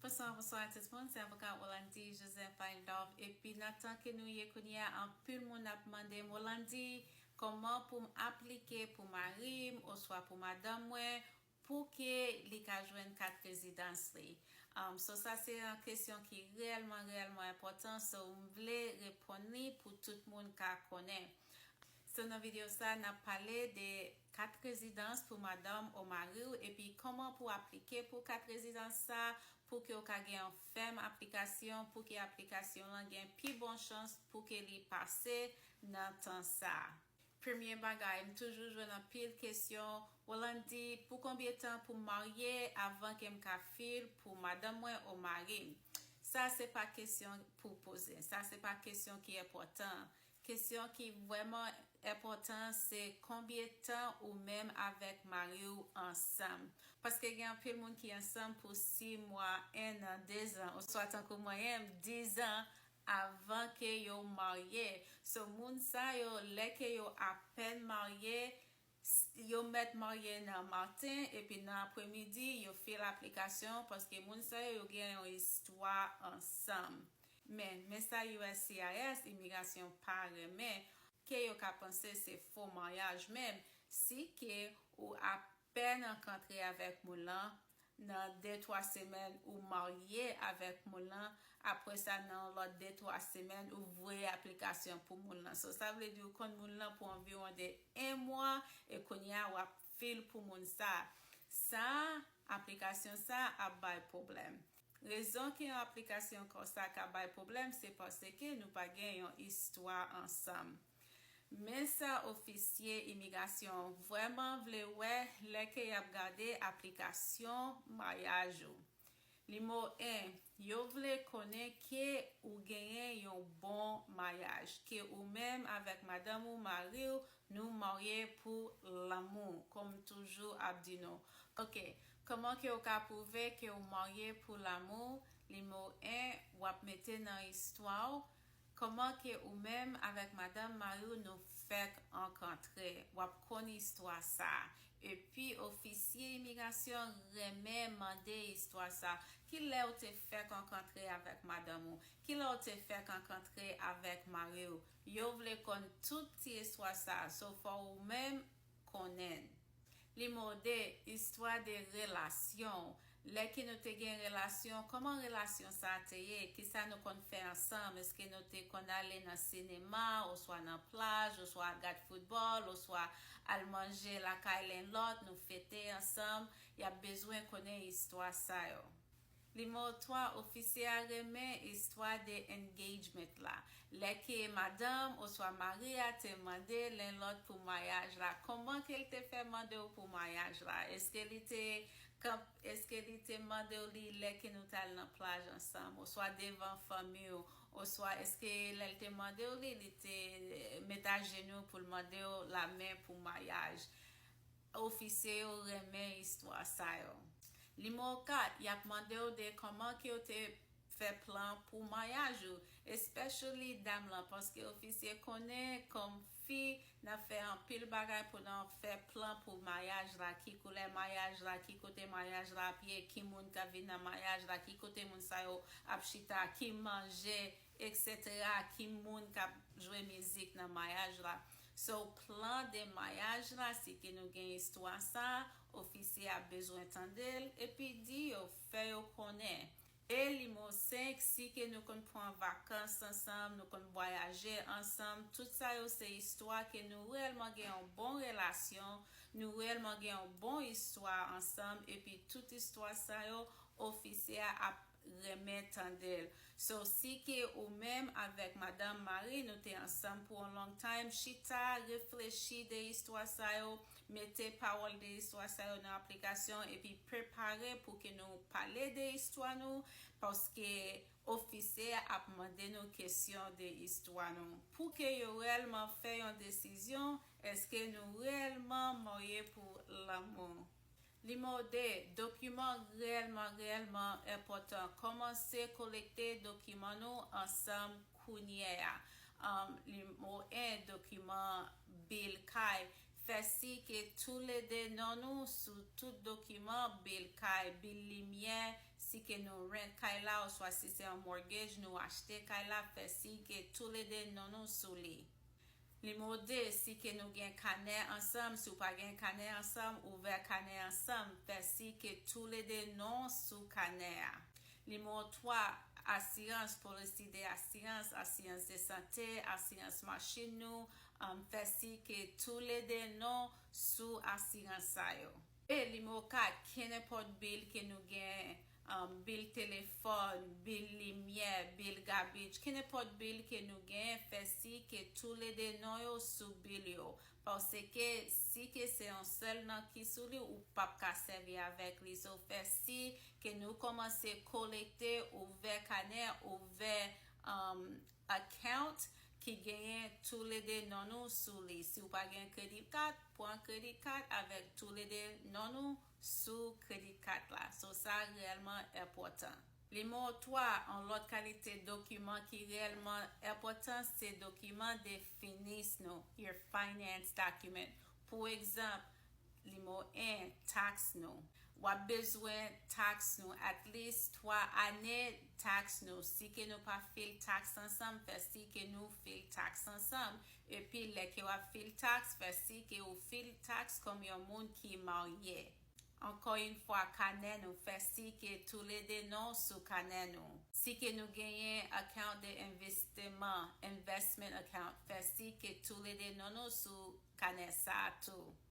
Bonswa bonswa tout moun se avoka Rolandi Joseph Baindorf epi nan tan ke nou ye kounye a anpil moun ap mandem Rolandi kòman poum aplike pou marim oswa pou madanm mwen pou ke li ka jwenn kat rezidans li so sa se yon kesyon ki reyèlman reyèlman enpòtan so m vle reponn li pou tout moun ka konnen. So nan video sa nap pale de kat rezidans pou madanm ou mariw epi koman pou aplike pou kat rezidans sa pouke ou ka gen yon fèm aplikasyon pouke aplikasyon lan gen pi bon chans pouke li pase nan tan sa. Premye bagay m toujou jwenn anpil kesyon Rollandy pou konbyen tan pou m marye avan ke m ka fil pou madanm mwen ou marim sa se pa kesyon pou poze sa se pa kesyon ki enpòtan Kesyon ki vrèman enpòtan se konbyen tan ou menm avèk mariw ansanm. Paske gen anpil moun ki ansanm pou 6 mwa, 1 an, 2 zan oswa tankou mwen menm 10 zan avan ke yo marye. So moun sa yo lè ke yo apèn marye Yo mèt marye nan maten epi nan apremidi yo fil aplikasyon paske moun sa yo yo gen yon istwa ansanm. Men, men sa uscis, imigrasyon, pa renmen, ke yo ka panse se fo maryaj men, si ke ou apèn ankantre avèk moun lan, nan de twa semèn ou marye avèk moun lan apre sa nan yon lòt de twa semèn ou voye aplikasyon pou moun lan so sa vle di ou konn moun lan pou anviwon de 1 mwa e kounye a wap fil pou moun sa sa aplikasyon sa ap bay pwoblèm rezon ke yon aplikasyon konsa ka bay pwoblèm se paske nou pa gen yon istwa ansanm. Men sa ofisye imigrasyon an vrèman vle wè lè ke y ap gade aplikasyon maryaj ou. Nimo 1, Yo vle konnen ke ou genyen yon bon maryaj, ke ou menm avèk madanm ou, mari ou, nou marye pou lanmou, kòm m toujou ap di nou. Ok, kòman ke ou ka pwouve ke ou marye pou lanmou? Nimo 1, W ap mete nan istwa ou Kman ke ou menm avek madanm mariw nou fek ankantre wap konn istwa sa epi ofisye imigrasyon renmen mande istwa sa kilè ou te fek ankantre avek madanm ou kilè ou te fek ankantre avek mariw yo vle konn tout ti istwa sa so fò ou menm Konnen. Li mòde istwa de relasyon w, lè ke nou te gen relasyon, kòman relasyon sa te ye, kisa nou konn fè ansanm, eske nou te konn ale nan sinema, oswa nan plaj, oswa gad foutbòl, oswa al manje lakay len lòt, nou fete ansanm, y ap bezwen konnen istwa sa yo. Nimewo 3, Ofisye a renmen istwa de engagement la, lè ke madanm oswa mari a te mande len lòt pou maryaj la, kòman ke l te fè mande w pou maryaj la, eske li te kanp eske li te mande w li lè ke nou t al nan plaj ansanm oswa devan fanmi w oswa eske lè l te mande w li li te met ajenou pou l mande w lamen pou maryaj. Ofisye yo renmen istwa sa yo. Nimewo 4, yap mandew de koman kew te fè plan pou maryaj ou, especially dam lan paske ofisye konnen kom fi nan fè anpil bagay pou nan fè plan pou maryaj la, ki koulè maryaj la, ki kote maryaj la ap ye, ki moun kap vin nan maryaj la, ki kote moun sa yo ap chita, ki manje Etc ki moun kap jwe mizik nan mayaj la so plan de mayaj la si ke nou gen istwa sa ofisye a bezwen tandel epi di yo fè yo konnen e limo 5 si ke nou konn pran vakans ansanm nou konn bwayaje ansanm tout sa yo se istwa ke nou reyèlman gen yon bon relasyon nou reyèlman gen yon bon istwa ansanm epi tout istwa sa yo ofisye a ap renmen tandel so si ke ou menm avek madanm mari nou te ansanm pou on long time chita reflechi de istwa sa yo mete pawol de istwa sa yo nan aplikasyon epi prepare pou ke nou pale de istwa nou paske ofisye a ap mande nou kesyon de istwa nou pou ke yo relman fè yon desizyon eske nou relman morye pou lanmou Li mòde, Dokiman rèlman rèlman enpòtan. Kòmanse kolekte dokiman nou ansanm kounyè a. Li mo 1, Dokiman bil kay. Fè si ke toulede non nou sou tout dokiman, bil kay, bil limyè, si ke nou rent kay la oswa si se an mortgage nou achte kay la, fè si ke toulede non nou sou li. Nimewo 2, Si ke nou gen kanè ansanm, si w pa gen kanè ansanm, ouvè kanè ansanm, fè siy ke toulede non w sou kanè a. Nimewo 3, Asirans, polisi de asirans, asiyans de sante, asiyans machin nou, fè siy ke toulede non sou asirans sa yo. E, Nimewo 4, Kennenpòt bil ke nou gen Bil telefòn, bil limyè, bil gabich, kenenpòt bil ke nou genyen fè si ke toulede non yo sou bil yo. Paske si ke se yon sèl non ki sou li ou pap ka sèvi avèk li. So fè si ke nou kòmanse kolekte, ouvè kanè, ouvè account ki genyen toulede non nou sou li. Si ou pa gen credit card, pran credit card avèk toulede non nou. sou kredi kat la, so sa reyèlman enpòtan. Nimewo 3, yon lòt kalite dokiman ki reyèlman enpòtan se dokiman de finis nou, your finance document. Pou egzanp, nimewo 1, taks nou. W ap bezwen taks nou, at least 3 ane taks nou. Si ke nou pa file taks ansanm, fè si ke nou file taks ansanm. Epi lè ke wap fil tax fè si ke ou fil tax kòm yon moun ki marye. Ankò yn fwa kanè nou fè si ke toulede non sou kanè nou. Si ke nou genyen account de envisteman, investment account, fè si ke toulede non nou sou kanè sa tou.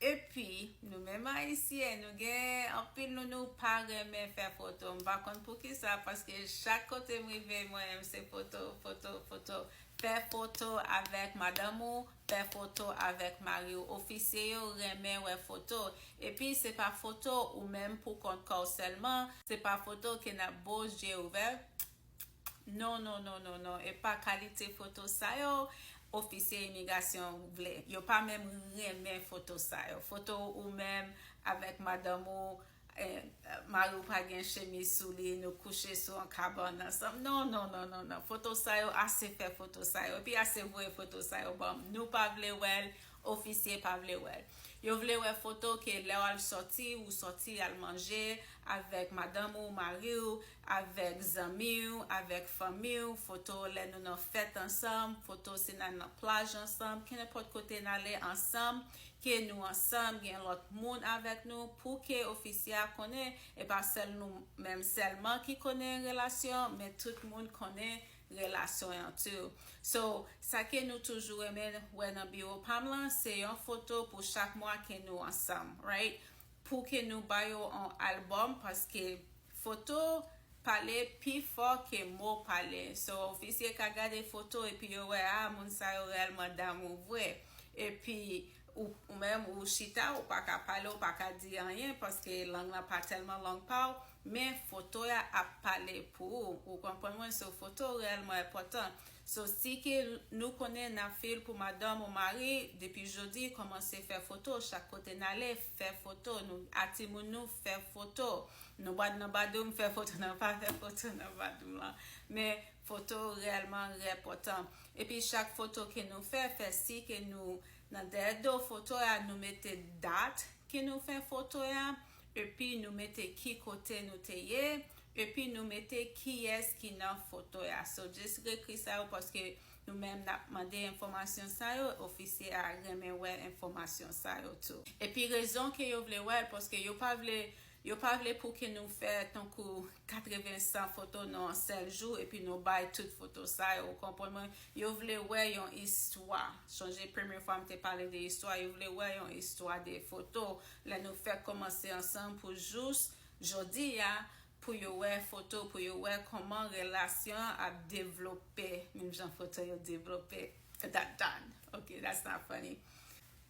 Epi nou menm ayisyen nou gen anpil nou nou pa renmen fè foto m pa konn poukisa paske chak kote m rive mwen menm se foto foto foto fè foto avèk madanm ou fè foto avèk mari w ofisye yo renmen wè foto epi se pa foto ou menm pou kont kò w sèlman se pa foto ke n ap bo zye ouvè Non non non non non epa kalite foto sa yo ofisye imigasyon vle yo pa menm renmen foto sa yo foto ou menm avèk madanm ou mari ou pa gen chemiz sou li nou kouche sou yon kabann ansanm non non non non non foto sa yo ase fè foto sa yo epi ase voye foto sa yo banm nou pa vle wèl ofisye pa vle wèl yo vle wè foto ke lèw al sòti ou sòti al manje avèk madanm ou mari ou Avèk zanmi w, avèk fanmi w, foto lè nou nan fèt ansanm, foto si n al nan plaj ansanm, kenenpòt kote n ale ansanm, ke nou ansanm, gen lòt moun avèk nou, pou ke ofisye a konnen, e pa sèl nou menm sèlman ki konnen relasyon an, men tout moun konnen relasyon an tou. So, sa ke nou toujou renmen wè nan biwo pa m lan, se yon foto pou chak mwa ke nou ansanm, right? Pou ke nou ba yo yon albòm, paske Foto pale pi fò ke mo pale. So ofisye ka gade foto epi yo wè ah moun sa yo reyèlman damou vre. Epi ou menm ou chita ou pa ka pale ou pa ka di anyen paske lang lan pa tèlman lang pa ou men foto a ap pale pou ou. Ou konprann mwen? So foto reyèlman enpòtan. So si ke nou konnen na fil pou madanm ou mari depi jodi komanse fè foto chak kote nale fè foto nou a timoun nou fè foto nou bad nan badoum fè foto nan pa fè foto nan badoum lan men foto rèlman rè pòtan epi chak foto ke nou fè fè si ke nou nan dèyè do foto ya nou mete dat ke nou fè foto ya. Epi nou mete ki kote nou te ye, epi nou mete kiyès ki nan foto ya. So just reekri sa yo paske nou menm nap mande enfòmasyon sa yo, ofisye a renmen wè enfòmasyon sa yo tou. Epi rezon ke yo vle wèl paske yo pa vle yo pa vle pou ke nou fè tankou 80 100 foto nan yon sèl jou epi nou bay tout foto sa yo ou konprann mwen yo vle wè yon istwa sonje premye fwa m te pale de istwa yo vle wè yon istwa de foto Lè nou fèk komanse ansanm pou jous jodi a pou yo wè foto pou yo wè kòman relasyon an ap devlope menm jan foto yo devlope dat dan ok that's not funny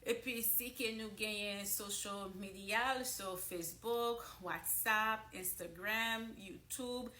epi si ke nou genyen social medial so facebook whatsapp instagram youtube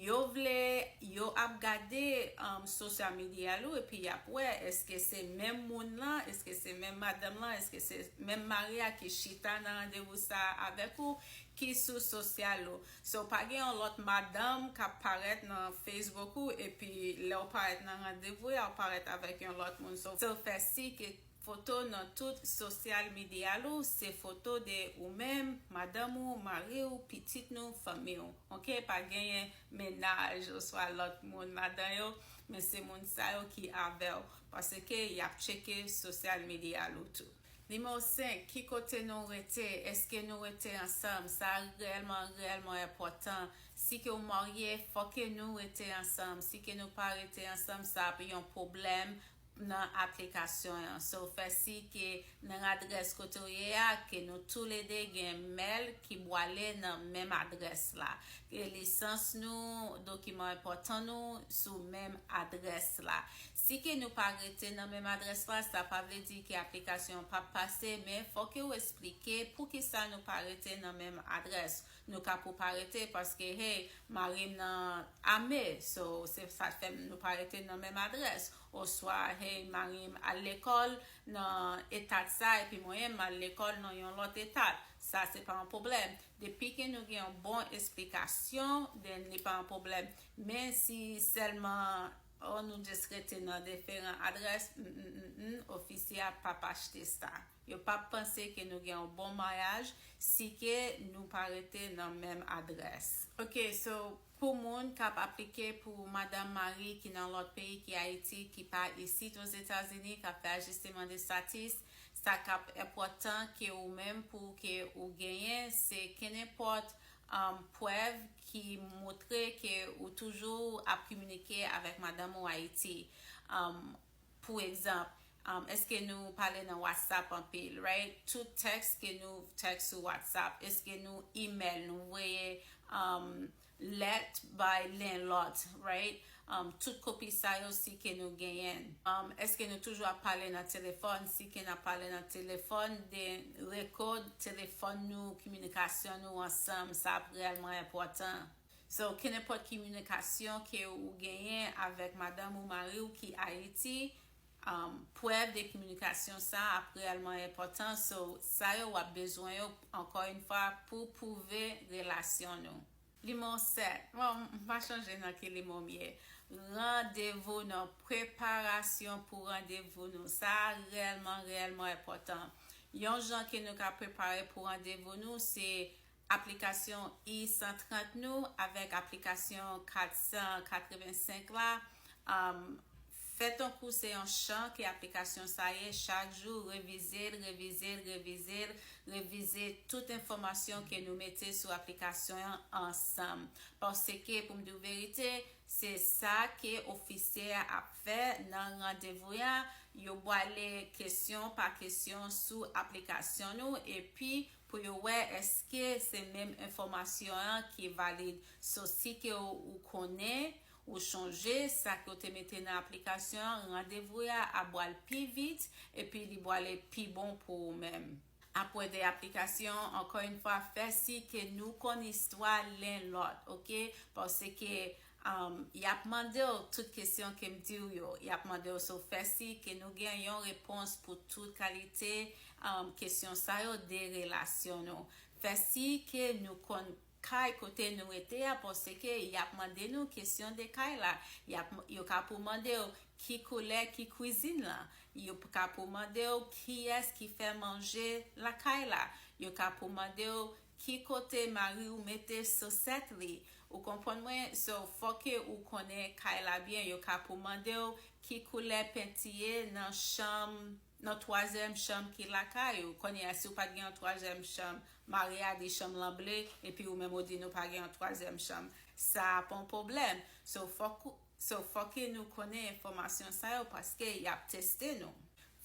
Yo vle yo ap gade social media l ou epi yap wè eske se menm moun lan, eske se menm madanm lan, eske se menm mari a ki chita nan randevou sa avèk ou ki sou social ou. So pa gen yon lòt madanm kap parèt nan Facebook ou epi lèw parèt nan randevou ya ou parèt avèk yon lòt moun so fè si ke Foto nan tout sosyal midea lou se foto de ou menm, madanm ou, mari ou, pitit nou, fanmi ou. Ok pa genyen mennaj oswa lòt moun ladan yo men se moun sa yo ki avèw paske yap tcheke sosyal midea lou tou. Nimewo 5, ki kote nou rete, eske nou rete ansanm, sa reyèlman reyèlman enpòtan, si ke ou marye fòke nou rete ansanm, si ke nou pa rete ansanm sa ap yon pwoblèm nan aplikasyon an so fè si ke nan adrès kote ou ye a ke nou tou le 2 gen mail ki bwale nan menm adrès la ke lisans nou dokiman enpòtan nou sou menm adrès la si ke nou pa rete nan menm adrès la sa pa vle di ke aplikasyon an pap pase men fò ke ou esplike poukisa nou pa rete nan menm adrès. Nou ka pou pa rete paske hey marim nan ame so se sa k fè nou pa rete nan menm adrès oswa hey marim al lekòl nan etat sa epi mwen m al lekòl nan yon lòt etat sa se pa yon pwoblèm depi ke nou gen yon bon esplikasyon then li pa yon pwoblèm men si sèlman oh nou just rete nan deferan adrès m m m ofisye a pap achte sa. Yo pap panse ke nou gen yon bon maryaj si ke nou pa rete nan menm adrès. Ok so pou moun kap aplike pou madanm mari ki nan lòt peyi ki ayiti ki pa isit ozetazini kap fè ajisteman de statis sa kap enpòtan ke ou menm pou ke ou genyen se kenenpòt prèv ki moutre ke ou toujou ap kiminike avèk madanm ou ayiti Pou egzanp, Eske nou pale nan WhatsApp anpil? Right? Tout tèks ke nou tèks sou WhatsApp? Eske nou email, nou voye lèt bay len lòt? Right? Tout kopi sa yo si ke nou genyen. Eske nou toujou ap pale nan telefòn? Si ke nap pale nan telefòn, den rekòd telefòn nou, kominikasyon nou ansanm, sa ap reyèlman enpòtan. So kenenpòt ki minikasyon ke ou genyen avèk madanm ou mari ou ki Ayiti, prèv de kminikasyon sa ap reyèlman enpòtan. So sa yo wap bezwen yo ankò yn fwa pou pwouve relasyon nou. Limonw 7. Bon, m pa chanje nan ki limon m ye. Randevou nou, preparasyon pou randevou nou. Sa a reyèlman, reyèlman enpòtan. Yon jan ke nou ka prepare pou randevou nou se Aplikasyon I 130 nou avèk aplikasyon 485 la fè tankou se yon chan ke aplikasyon sa ye chak jou revize l, revize l, revize l, revize tout enfòmasyon ke nou mete sou aplikasyon an ansanm. Paske pou m di w verite, se sa ke ofisye a ap fè nan randevou ya, yo bwale kesyon pa kesyon sou aplikasyon nou epi pou yo wè eske se menm enfòmasyon an ki valid so si ke ou konnen ou chonje sa ke ou te mete nan aplikasyon an randevou ya ap bwal pi vit epi li bwale pi bon pou ou menm apwè de aplikasyon ankò yn fwa fè si ke nou konn istwa len lòt ok paske Yap mandew tout kesyon kem diw yo, yap mandew si w fè si, ke nou gen yon repons pou tout kalite kesyon sa yo de relasyon nou. Fè si ke nou konn kay kote nou rete a paske ke yap mande nou kesyon de kay la. Yo ka pou mandew ki koulè ki kwizin lan, yo ka pou mandew kiyès ki fè manje lakay la, yo ka pou mandew Ki kote mariw mete sosèt li ou konprann mwen so foke ou konnen kay la byen yo ka pou mandew ki koulè penti ye nan chanm nan twazyèm chanm ki lakay ou konnen a siw pat gen yon twazyèm chanm mari a di chanm lan ble epi ou menm ou di nou pa gen yon twazyèm chanm sa ap yon pwoblèm so fok ou So fòke nou konnen enfòmasyon sa yo paske y ap teste nou.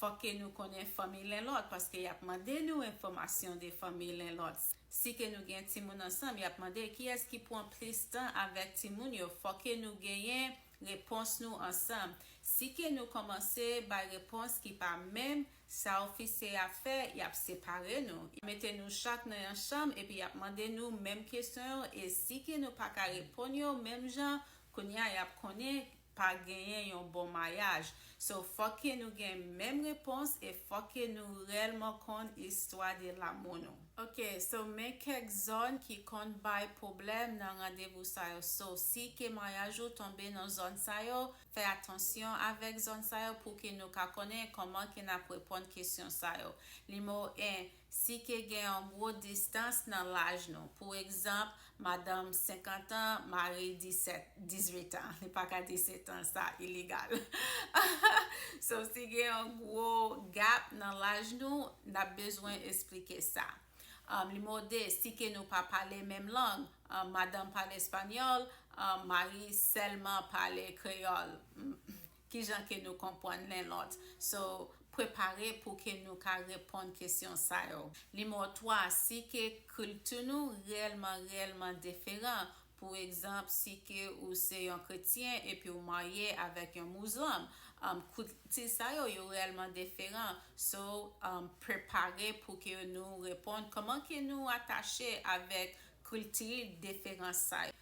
Fòke nou konnen fanmi lennlòt paske y ap mande nou enfòmasyon de fanmi lennlòt. Si ke nou gen timoun ansanm y ap mande kiyès ki pwan plis tan avèk timoun yo fòke nou genyen repons nou ansanm. Si ke nou kòmanse bay repons ki pa menm sa ofisye a fè y ap separe nou. Y ap mete nou chak nan yon chanm epi y ap mande nou menm kesyon yo e si ke nou pa ka reponn yo menm jan Kounya yap konnen pa genyen yon bon mayaj so fòk ke nou gen menm repons e fòk ke nou rèlman konn istwa de lamou nou. Ok so men kèk zòn ki konn bay pwoblèm nan randevou sa yo so si ke mayaj ou tonbe nan zòn sa yo fè atansyon avèk zòn sa yo pou ke nou ka konnen kòman ke nap reponn kesyon sa yo nimewo 1 Si ke gen yon gwo distans nan laj nou, pou egzanp, madanm 50 an, mari 17, 18 an, li pa ka 17 an, sa iligal. So si gen yon gwo gap nan laj nou, n ap bezwen esplike sa. Nimewo 2, si ke nou pa pale menm lang, madanm pale espanyòl, mari sèlman pale kreyòl. Kijan ke nou konpwann len lòt? So, prepare pou ke nou ka reponn kesyon sa yo. Nimewo 3, si ke kilti nou reyèlman reyèlman deferan, pou egzanp, si ke ou se yon kretyen epi ou marye avèk yon mouzlom, kilti sa yo, yo reyèlman deferan. So, prepare pou ke nou reponn, kòman ke nou atache avèk kilti deferans sa yo?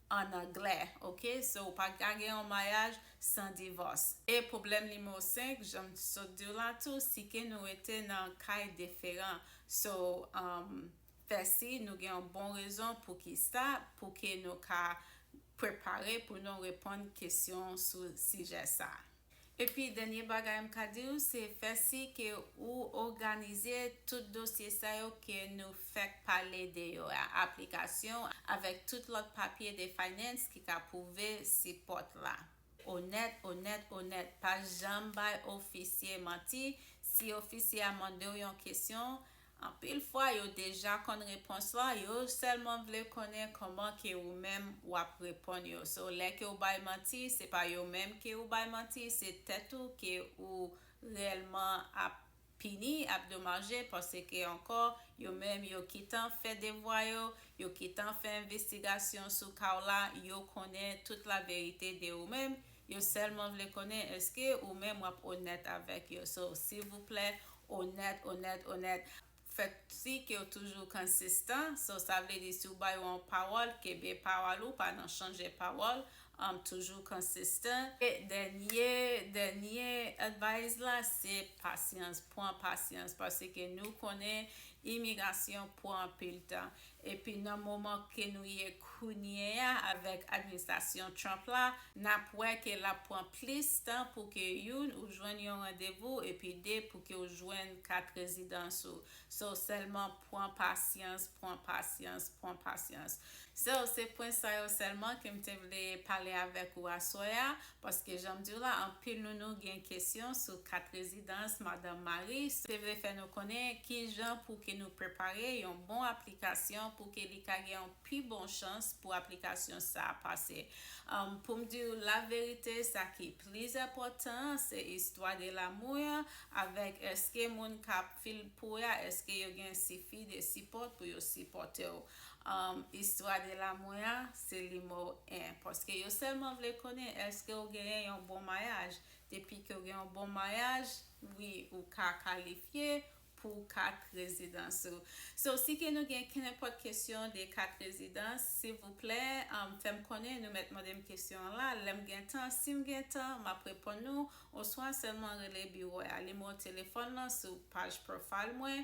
an anglè ok so ou pa ka gen yon maryaj san divòs. E pwoblèm nimewo 5 jan m t sot diw la tou si ke nou rete nan kay deferan so um fè si nou gen yon bon rezon pou kisa pou ke nou ka prepare pou nou reponn kesyon sou sijè sa. Epi dènye bagay m ka di w se fè si ke ou òganize tout dosye sa yo ke nou fèk pale de yo a, aplikasyon avèk tout lòt papye de finance ki ka pwouve si pòt la. Onèt, onèt, onèt. Pa janm bay ofisye manti, si ofisye a mande w yon kesyon, Anpil fwa yo deja konn repons la yo sèlman vle konnen kòman ke ou menm wap reponn yo so lè ke ou bay manti se pa yo menm ke ou bay manti se tèt ou ke ou reyèlman ap pini ap domaje paske ankò yo menm yo kitan fè devwa yo yo kitan fè envestigasyon sou ka w la yo konnen tout laverite de ou menm Yo sèlman vle konnen eske ou menm wap onèt avèk yo so silvouplè onèt onèt onèt fè si kew toujou kansistan so sa vle di si ou ba yo yon pawòl kenbe pawòl ou pa nan chanje pawòl anm toujou kansistan. Dènye dènye advice la se pasyans pran pasyans paske nou konnen imigrasyon pran anpil tan Epi nan moman ke nou ye kounye a avèk administrasyon Trump la, n ap wè ke l ap pran plis tan pou ke youn ou jwenn yon randevou epi de pou ke w jwenn kat rezidans ou. So sèlman pran pasyans, pran pasyans, pran pasyans. So se pwen sa yo sèlman ke m te vle pale avèk ou aswè a Paske janm diw la anpil nou nou gen kesyon sou kat rezidans madanm mari se vle fè nou konnen kijan pou ke nou prepare yon bon aplikasyon pou ke li ka gen yon pi bon chans pou aplikasyon sa pase poum diw la verite sa ki plis enpòtan se istwa de lamou ya avèk eske moun kap fil pou ya eske yo gen sifi de sipòt pou yo sipòtew Istwa de la mwen a se li mò w 1 paske yo sèlman vle konnen èske w genyen yon bon mayaj depi ke w gen yon bon mayaj wi ou ka kalifye pou kat rezidans ou so si ke nou gen kenenpòt kesyon de kat rezidans silvouplè fè m konnen nou mèt mande m kesyon an la lè m gen tan si m gen tan m ap reponn nou oswa sèlman rele biwo a li mò w telefòn lan sou paj profile mwen